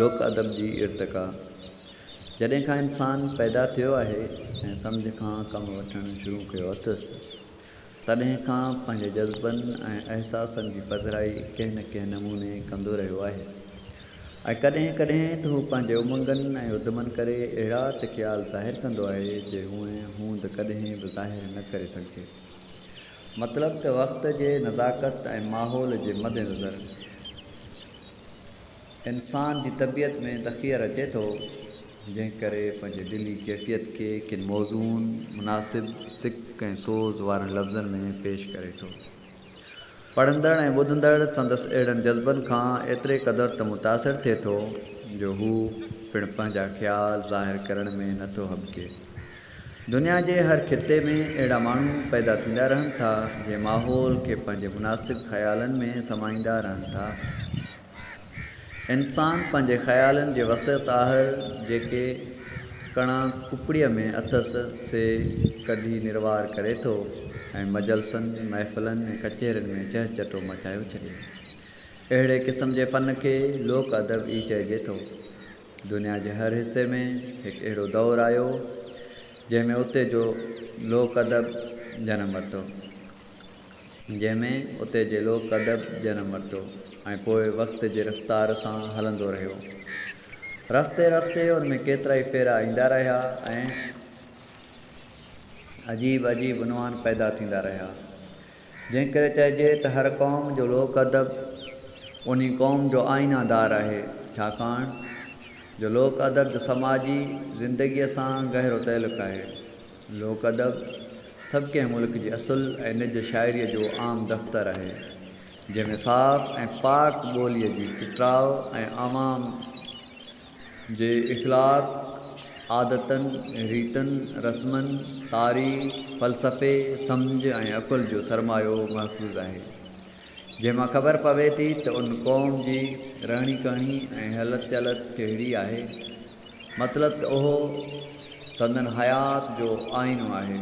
لوڪ ادب جي ارتقا جڏهن کان انسان پيدا ٿيو آهي ۽ سمجهه کان ڪم وٺڻ شروع ڪيو اٿس، تڏهن کان پنهنجي جذبن ۽ احساسن جي پڌرائي ڪنهن نه ڪنهن نموني ڪندو رهيو آهي ۽ ڪڏهن ڪڏهن ته هو پنهنجي امنگن ۽ ادمن ڪري اهڙا ته خيال ظاهر ڪندو آهي جي هونئن هوند ڪڏهن به ظاهر نه ڪري سگهجي مطلب ته وقت جي نزاڪت ۽ ماحول جي مدنظر انسان جي طبيعت ۾ تخير اچي ٿو، جنهن ڪري پنهنجي دلي ڪيفيت کي ڪن موزون، مناسب، سڪ ۽ سوز وارن لفظن ۾ پيش ڪري ٿو. پڙهندڙ ۽ ٻڌندڙ سندس اهڙن جذبن کان ايتري قدر ته متاثر ٿئي ٿو، جو هو پڻ پنهنجا خيال ظاهر ڪرڻ ۾ نه ٿو هٻڪي. دنيا جي هر خطي ۾ اهڙا ماڻهو پيدا ٿيندا رهن ٿا، جي ماحول کي پنهنجي مناسب خيالن ۾ سمائيندا رهن ٿا. انسان پنهنجي خيالن جي وسعت آهر جيڪي ڪڻا ڪپڙيء ۾ اٿس، سي ڪڍي نروار ڪري ٿو ۽ مجلسن، محفلن ۽ ڪچهرين ۾ چهچٽو مچايو ڇڏي. اهڙي قسم جي فن کي لوڪ ادب ئي چئجي ٿو. دنيا جي هر حصي ۾ هڪ اهڙو دور آيو جنهن ۾ اتي جو لوڪ ادب جنم ورتو جنهن ۾ اتي جي لوڪ ادب جنم ورتو ۽ پوء وقت جي رفتار سان هلندو رهيو رفتي رفتي ان ۾ ڪيترائي ڦيرا ايندا رهيا ۽ عجيب عجيب عنوان پيدا ٿيندا رهيا جنهن ڪري چئجي ته هر قوم جو لوڪ ادب انهي قوم جو آئينه دار آهي، ڇاڪاڻ جو لوڪ ادب جو سماجي زندگيء سان گهرو تعلق آهي. لوڪ ادب سڀ ڪنهن ملڪ جي اصل ۽ نج شاعريء جو عام دفتر آهي، جنهن ۾ صاف ۽ پاڪ ٻوليء جي سٽراء ۽ عوام، جي اخلاق، عادتن، ريتن، رسمن، تاريخ، فلسفي، سمجهه ۽ عقل جو سرمايو محفوظ آهي، جنهن مان خبر پوي ٿي ته ان قوم جي رهڻي ڪهڻي ۽ هلت چلت ڪهڙي آهي، مطلب ته اهو سندن حيات جو آئينو آهي.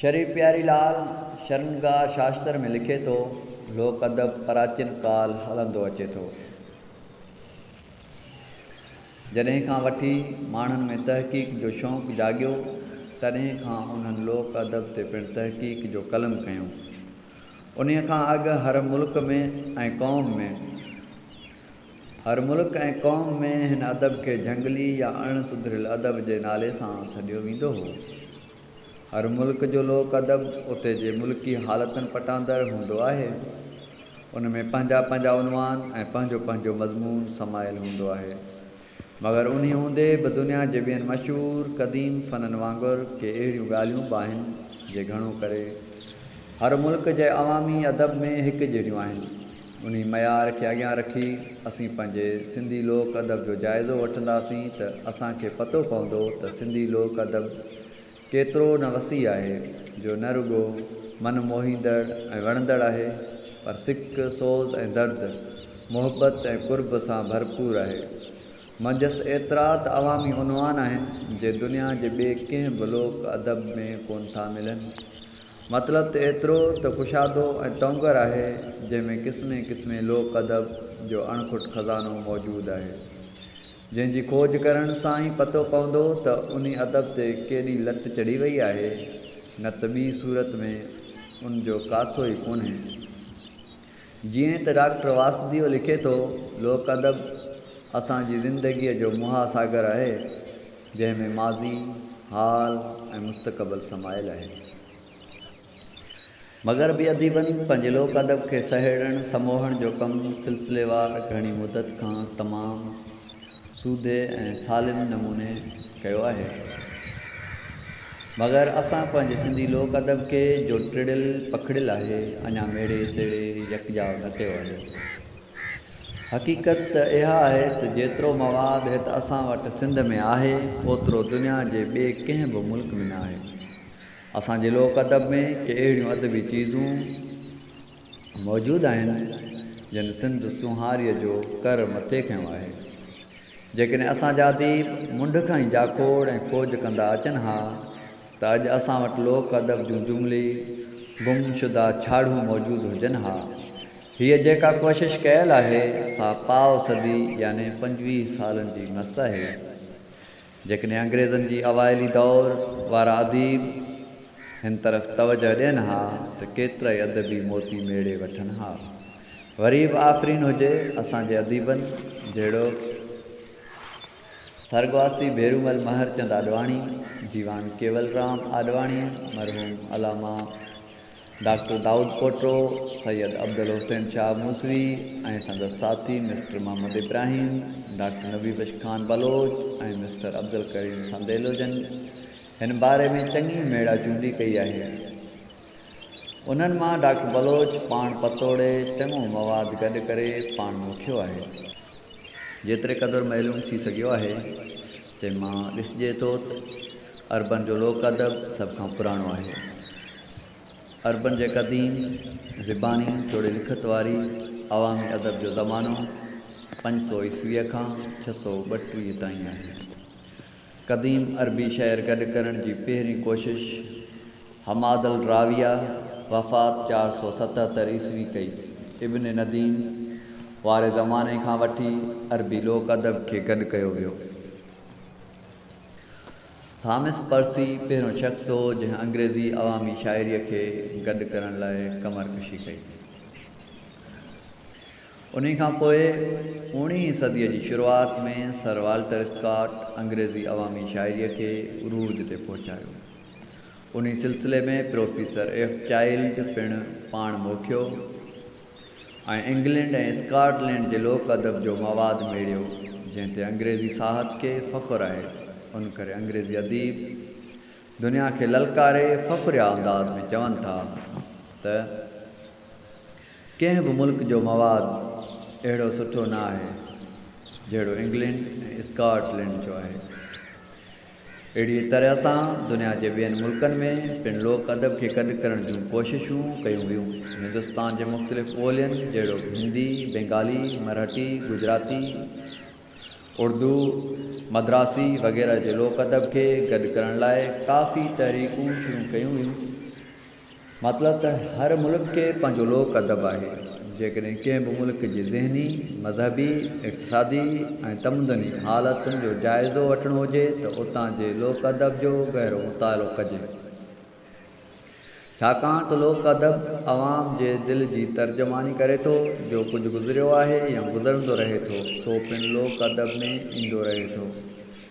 شري پياري لال شرنگار شاستر ۾ لکي ٿو، لوڪ ادب پراچين ڪال هلندو اچي ٿو. جڏهن کان وٺي ماڻهن ۾ تحقيق جو شونق جاڳيو، تڏهن کان انهن لوڪ ادب تي پڻ تحقيق جو قلم کنيو. انهيء کان اڳ هر ملڪ ۾ ۽ قوم ۾. هر ملڪ ۽ قوم ۾ هن ادب کي جهنگلي يا اڻ سڌريل ادب جي نالي سان سڏيو ويندو هو. هر ملڪ جو لوڪ ادب اتي جي ملڪي حالتن پٽاندر هوندو آهي. ان ۾ پنهنجا پنهنجا عنوان ۽ پنهنجو پنهنجو مضمون سمايل هوندو آهي. مگر انهيء هوندي به دنيا جي ٻين مشهور قديم فنن وانگر ڪي اهڙيون ڳالهيون به آهن جي گهڻو ڪري هر ملڪ جي عوامي ادب ۾ هڪجهڙيون آهن. انهي معيار کي اڳيان رکي اسين پنهنجي سنڌي لوڪ ادب جو جائزو وٺنداسين ته اسان کي پتو پوندو ته سنڌي لوڪ ادب ڪيترو نه وسيع آهي جو نه رڳو من موهيندڙ ۽ وڻندڙ آهي پر سڪ، سوز ۽ درد، محبت ۽ قرب سان ڀرپور آهي. منجهس ايترا ته عوامي عنوان آهن جي دنيا جي ٻئي ڪنهن به لوڪ ادب ۾ ڪونه ٿا ملن. مطلب ته ايترو ته ڪشادو ۽ تونگر آهي، جنهن ۾ قسمين قسمين لوڪ ادب جو اڻکٽ خزانو موجود آهي، جنهن جي کوج ڪرڻ سان ئي پتو پوندو ته انهي ادب تي ڪيڏي لٽ چڙهي وئي آهي، نه ته ٻي صورت ۾ ان جو ڪاٿو ئي ڪونهي. جيئن ته ڊاڪٽر واسديو لکي ٿو، لوڪ ادب اسان جي زندگيء جو مها ساگر آهي، جنهن ۾ ماضي، حال ۽ مستقبل سمايل آهي. مغربي اديبن پنهنجي لوڪ ادب کي سهيڙڻ، سموهڻ جو ڪم سلسليوار گهڻي مدت کان تمام. سودي ۽ سالم نموني ڪيو آهي. مگر اسان پنهنجي سنڌي لوڪ ادب کي جو ٽڙيل پکڙيل آهي اڃا ميڙي سيڙي يڪجاء نه ڪيو آهي. حقيقت ته اها آهي ته جيترو مواد هت اسان وٽ سنڌ ۾ آهي اوترو دنيا جي ٻئي ڪنهن به ملڪ ۾ نه آهي. اسان جي لوڪ ادب ۾ ڪي اهڙيون ادبي چيزون موجود آهن جن سنڌ سونهاريء جو ڪر مٿي کنيو آهي. جيڪڏهن اسان جا اديب منڍ کان ئي جاکوڙ ۽ کوج ڪندا اچن ها ته اڄ اسان وٽ لوڪ ادب جون جملي گم شده ڇاڙهون موجود هجن ها. هيء جيڪا ڪوشش ڪيل آهي سا پاء صدي يعني پنجويهه سالن جي مس آهي. جيڪڏهن انگريزن جي اوائلي دور وارا اديب هن طرف توجهه ڏين ها ته ڪيترائي ادبي موتي ميڙي وٺن ها. وري به آفرين هجي اسان جي اديبن جهڙوڪ سرڳواسي ڀيرومل مهرچند آڏواڻي، ديوان ڪيولرام آڏواڻيء، مرحوم علامه ڊاڪٽر دائود پوٽو، سيد عبدالحسين شاهه موسوي ۽ سندس ساٿي mister Muhammad Ibrahim, doctor Nabi Bakhsh Khan Baloch ۽ mister Abdulkarim Sandilo جن هن باري ۾ چڱي ميڙا چونڊي ڪئي آهي. انهن مان ڊاڪٽر بلوچ پاڻ پتوڙي چڱو مواد گڏ ڪري پاڻ موکيو آهي. جيتري قدر معلوم ٿي سگهيو آهي، تنهن مان ڏسجي ٿو ته عربن جو لوڪ ادب سڀ کان پراڻو آهي. عربن جي قديم زباني توڙي لکت واري عوامي ادب جو زمانو پنج سؤ عيسويء کان ڇهه سؤ ٻٽيهه تائين آهي. قديم عربي شعر گڏ ڪرڻ جي پهرين ڪوشش حماد الراويه، وفات چار سؤ ستهتر عيسوي، ڪئي. ابن نديم واري زماني کان وٺي عربي لوڪ ادب کي گڏ ڪيو ويو. ٿامس پرسي پهريون شخص هو جنهن انگريزي عوامي شاعريء کي گڏ ڪرڻ لاء قمر ڪشي ڪئي. انهي کان پوء اوڻيهين صديء جي شروعات ۾ سر والٽر اسڪاٽ انگريزي عوامي شاعريء کي عروج تي پهچايو. انهي سلسلي ۾ پروفيسر ايف چائلڊ پڻ پاڻ موکيو. ۽ انگلينڊ ۽ اسڪاٽ لينڊ جي لوڪ ادب جو مواد ميڙيو، جنهن تي انگريزي ساهت کي فخر آهي، ان ڪري انگريزي اديب دنيا کي للڪاري فخريه انداز ۾ چون ٿا ته ڪنهن به ملڪ جو مواد اهڙو سٺو نه آهي، جهڙو انگلينڊ ۽ اسڪاٽ لينڊ جو آهي. اهڙيء طرح سان دنيا جي ٻين ملڪن ۾ پڻ لوڪ ادب کي گڏ ڪرڻ جون ڪوششون ڪيون ويون. هندستان جي مختلف ٻولين جهڙوڪ هندي، بينگالي، مرهٽي، گجراتي، اڙدو، مدراسي وغيره جي لوڪ ادب کي گڏ ڪرڻ لاء ڪافي تحريڪون شروع ڪيون ويون. مطلب ته هر ملڪ کي پنهنجو لوڪ ادب آهي. جيڪڏهن ڪنهن به ملڪ جي ذهني، مذهبي، اقتصادي ۽ تمدني حالتن جو جائزو وٺڻو هجي ته اتان جي لوڪ ادب جو گهرو مطالعو ڪجي. ڇاڪاڻ ته لوڪ ادب عوام جي دل جي ترجماني ڪري ٿو، جو ڪجهه گذريو آهي يا گذرندو رهي ٿو، سو پڻ لوڪ ادب ۾ ايندو رهي ٿو.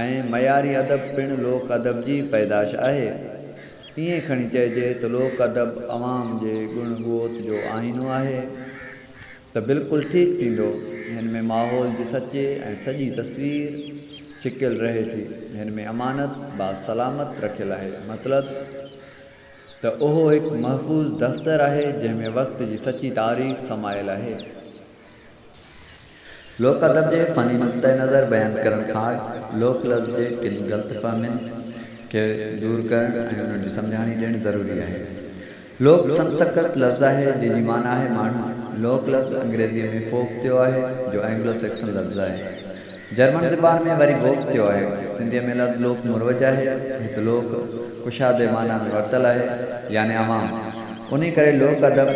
۽ معياري ادب پڻ لوڪ ادب جي پيدائش آهي. ائين کڻي چئجي ته لوڪ ادب عوام جي ڳڻ ڳوت جو آئينو آهي ته بلڪل ٺيڪ ٿيندو. هن ۾ ماحول جي سچي ۽ سڄي تصوير ڇڪيل رهي ٿي. هن ۾ امانت با سلامت رکيل آهي. مطلب ته اهو هڪ محفوظ دفتر آهي جنهن ۾ وقت جي سچي تاريخ سمايل آهي. لوڪ ادب جي فني نقطه نظر بيان ڪرڻ کان اڳ لوڪ لفظ جي ڪن غلط فهمين کي دور ڪرڻ ۽ انهن جي سمجهاڻي ڏيڻ ضروري آهي. لوڪ سنسڪرت لفظ آهي جنهن جي معنيٰ آهي ماڻهو. لوڪ لفظ انگريزيء ۾ فوڪ ٿيو آهي جو اينگلو سيڪسن لفظ آهي. جرمن زبان ۾ وري ووڪ ٿيو آهي. سنڌيء ۾ لفظ لوڪ مروج آهي. هت لوڪ ڪشادي معنيٰ ۾ ورتل آهي يعني عوام. انهيء ڪري لوڪ ادب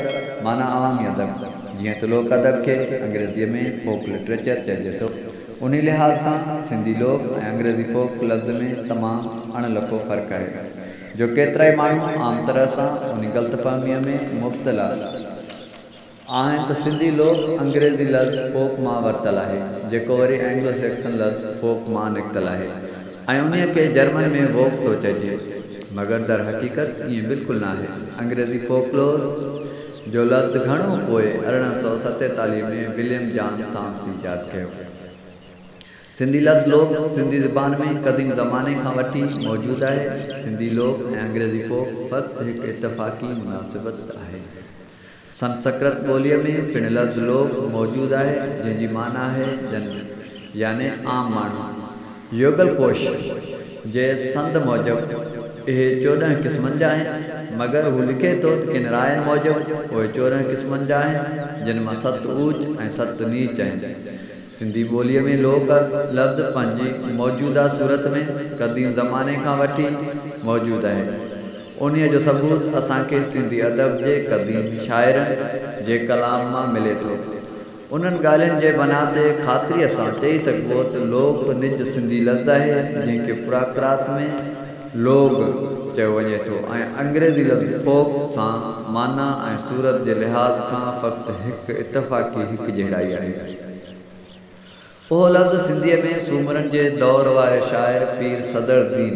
معنيٰ عوامي ادب. جيئن ته لوڪ ادب کي انگريزيء ۾ فوڪ لٽريچر چئجي ٿو، انهي لحاظ سان سنڌي لوڪ ۽ انگريزي فوڪ لفظ ۾ تمام اڻ لکو فرق آهي، جو ڪيترائي ماڻهو عام طرح سان انهي غلط فهميء ۾ مبتلا آهن ته سنڌي لوڪ انگريزي لفظ فوڪ مان ورتل آهي، جيڪو وري اينگلو سيڪسن لفظ فوڪ مان نڪتل آهي ۽ انهيء کي جرمن ۾ ووڪ ٿو چئجي، مگر در حقيقت ائين بلڪل نه آهي، انگريزي فوڪلور، جو لفظ گهڻو پوء ارڙهن سؤ ستيتاليهه ۾ وليم جان ٿامس ايجاد ڪيو. سنڌي لفظ لوڪ سنڌي زبان ۾ قديم زماني کان وٺي موجود آهي. سنڌي لوڪ ۽ انگريزي فوڪ فرض هڪ اتفاقي مناسبت آهي. سنسڪرت ٻوليء ۾ پڻ لفظ لوڪ موجود آهي، جنهن جي معنيٰ آهي جن يعني عام ماڻهو. يوگل ڪوش جي سند موجب اهي چوڏهن قسمن جا آهن، مگر هو لکي ٿو ته ڪن راين موجب اهي چورنهن قسمن جا آهن، جن مان ست اوچ ۽ ست نيچ آهن. سنڌي ٻوليء ۾ لوڪ لفظ پنهنجي موجوده صورت ۾ قديم زماني کان وٺي موجود آهي. انهيء جو ثبوت اسان کي سنڌي ادب جي قديم شاعرن جي ڪلام مان ملي ٿو. انهن ڳالهين جي بنا تي خاطريء سان چئي سگهبو ته لوڪ نج سنڌي لفظ آهي، جنهن کي پراڪرات ۾ لوگ چيو وڃي ٿو ۽ انگريزي لفظ فوڪ سان معنيٰ ۽ صورت جي لحاظ کان فقط هڪ اتفاقي هڪجهڙائي آهي. اهو لفظ سنڌيء ۾ سومرن جي دور واري شاعر پير صدر الدين،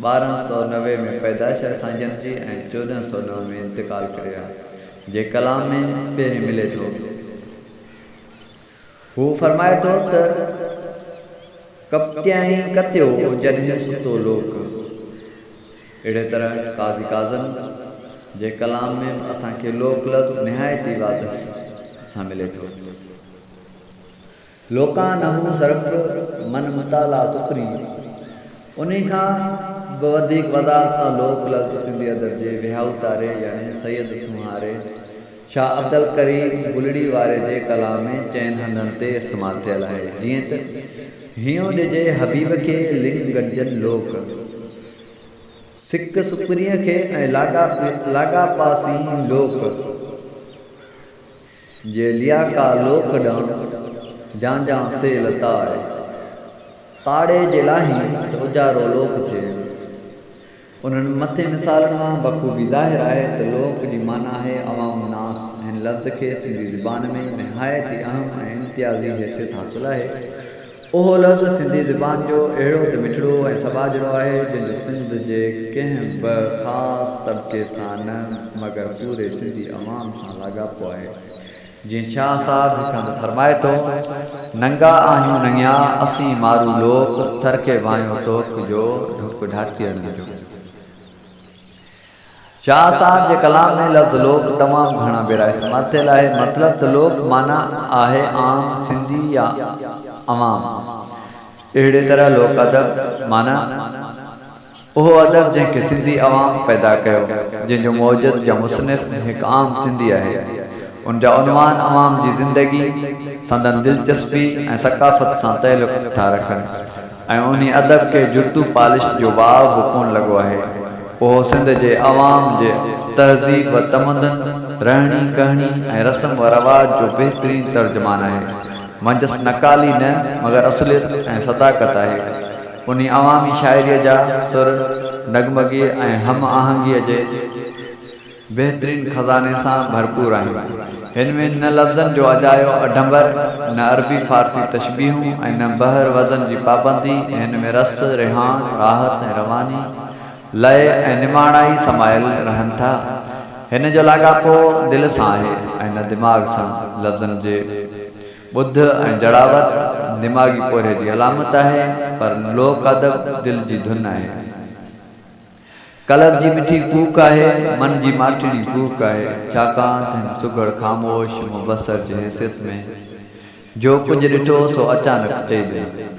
ٻارهن سؤ نوي ۾ پيدائش آهي سائينجن جي ۽ چوڏهن سؤ نو ۾ انتقال ڪري ويا، جي ڪلام ۾ پهرين ملي ٿو. هو فرمائي ٿو ته، ڪپتيائين ڪتيو جڏهن ستو لوڪ. اهڙي طرح قاضي قاضن جي ڪلام ۾ به اسان کي لوڪ لفظ نهايت ئي واضح سان ملي ٿو. لوڪانه صرف من مطالع ڪڪري انهي کان به وڌيڪ وضاحت سان لوڪ لفظ سنڌي ادب جي وهائوتاري يعني سيد سونهاري شاهه عبدالقري گلڙي واري جي ڪلام ۾ چئن هنڌن تي استعمال ٿيل آهي جيئن ته هيون ڏجي حبيب کي لڱ گڏجن لوڪ سڪ سڪريء کي ۽ لاڳاپاسين لوڪ جي ليا ڪا لوڪ ڏانء، جان جان سي لتا آء. پاڙي جي لاهين ته اجارو لوڪ ٿئي. انهن مٿين مثالن مان بخوبي ظاهر آهي ته لوڪ جي معنيٰ آهي عوام الناس. هن لفظ کي سنڌي زبان ۾ نهايت ئي اهم ۽ امتيازي حيثيت حاصل آهي. اهو لفظ سنڌي زبان جو اهڙو ته مٺڙو ۽ سٻاجهڙو آهي، جنهن جو سنڌ جي ڪنهن به خاص طبقي سان نه مگر پوري سنڌي عوام سان لاڳاپو آهي. جيئن شاهه صاحب هڪ هنڌ فرمائي ٿو، ننگا آهيون نڱيا اسين مارو لوڪ، ٿر کي ڀانيو ٽوڪ جو، ڍڪ ڍاٽڪي اڙنگ جو. شاهه صاحب جي ڪلام ۾ لفظ لوڪ تمام گهڻا ڀيرا استعمال ٿيل آهي، مطلب ته لوڪ معنيٰ آهي عام سنڌي يا عوام. اهڙي طرح لوڪ ادب معنيٰ اهو ادب جنهن کي سنڌي عوام پيدا ڪيو، جنهن جو موجد يا مصنف هڪ عام سنڌي آهي. ان جا عنوان عوام جي زندگي، سندن دلچسپي ۽ ثقافت سان تعلق ٿا رکن. ۽ انهي ادب کي جڙتو پالش جو واء به ڪونه لڳو آهي. اهو سنڌ جي عوام جي تهذيب و تمدن، رهڻي ڪهڻي ۽ رسم و رواج جو بهترين ترجمان آهي. منجهس نقالي نه مگر اصليت ۽ صداقت آهي. انهي عوامي شاعريء جا سر ڊگمگيء ۽ هم آهنگيء جي. بهترين خزاني سان ڀرپور آهن. هن ۾ نه لفظن جو اجايو اڍنڀر، نه عربي فارسي تشبيهون ۽ نه بحر وزن جي پابندي ۽ هن ۾ رس، رهاڻ، راحت ۽ رواني، لئه ۽ نماڻائي سمايل رهن ٿا. هن جو لاڳاپو دل سان آهي ۽ نه دماغ سان. لفظن جي ٻڌ ۽ جڙاوت دماغي پورهيي جي علامت آهي، پر لوڪ ادب دل جي ڌن آهي. قلب جي مٺي ڪوڪ آهي، من جي ماٺيڻي ڪوڪ آهي، ڇاڪاڻ ته هن سگهڙ خاموش مبصر جي حيثيت ۾ جو ڪجهه ڏٺو سو اچانڪ ٽي ڏينهن.